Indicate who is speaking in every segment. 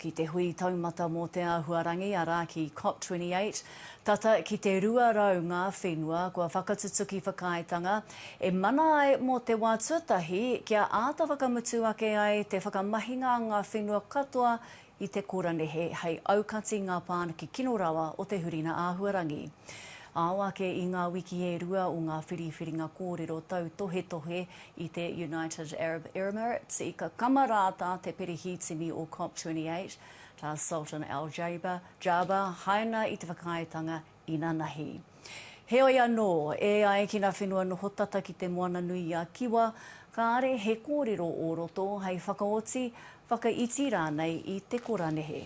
Speaker 1: ki te hui taumata mō te āhuarangi, arā, ki COP28, tata ki te 200 ngā whenua kua whakatutuki whakaaetanga e mana ai mō te wā tuatahi kia āta whakamutu ake ai te whakamahinga a ngā whenua katoa i te koranehe hei aukati ngā pāniki kino rawa o te hurina āhuarangi. Ao ake i ngā wiki e rua o ngā whiriwhiringa kōrero tautohetohe I te United Arab Emirates, i kakama rā tā te perehītini o COP28, tā Sultan Al Jaber, Jaber haina i te whakaaetanga inanahi. Heoi anō, e ai ki ngā whenua noho tata ki Te Moana-nui-a-Kiwa, kāre he kōrero o roto hei whakaoti, whakaiti rānei i te kora nehe.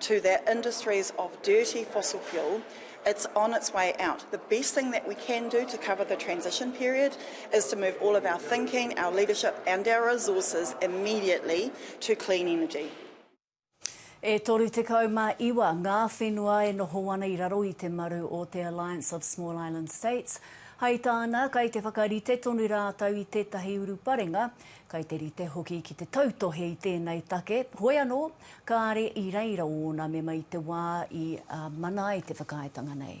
Speaker 2: to that industries of dirty fossil fuel, it's on its way out. The best thing that we can do to cover the transition period is to move all of our thinking, our leadership and our resources immediately to clean energy.
Speaker 1: E 39 ngā whenua e noho ana i raro i te maru o te Alliance of Small Island States. Hai tāna, kai te whakarite tonu rātou i tētahi uruparenga Kei te rite hoki ki te tautohe i tēnei take, hoi anō, kāre i reira ōna mema i te wā i mana ai te whakaaetanga nei.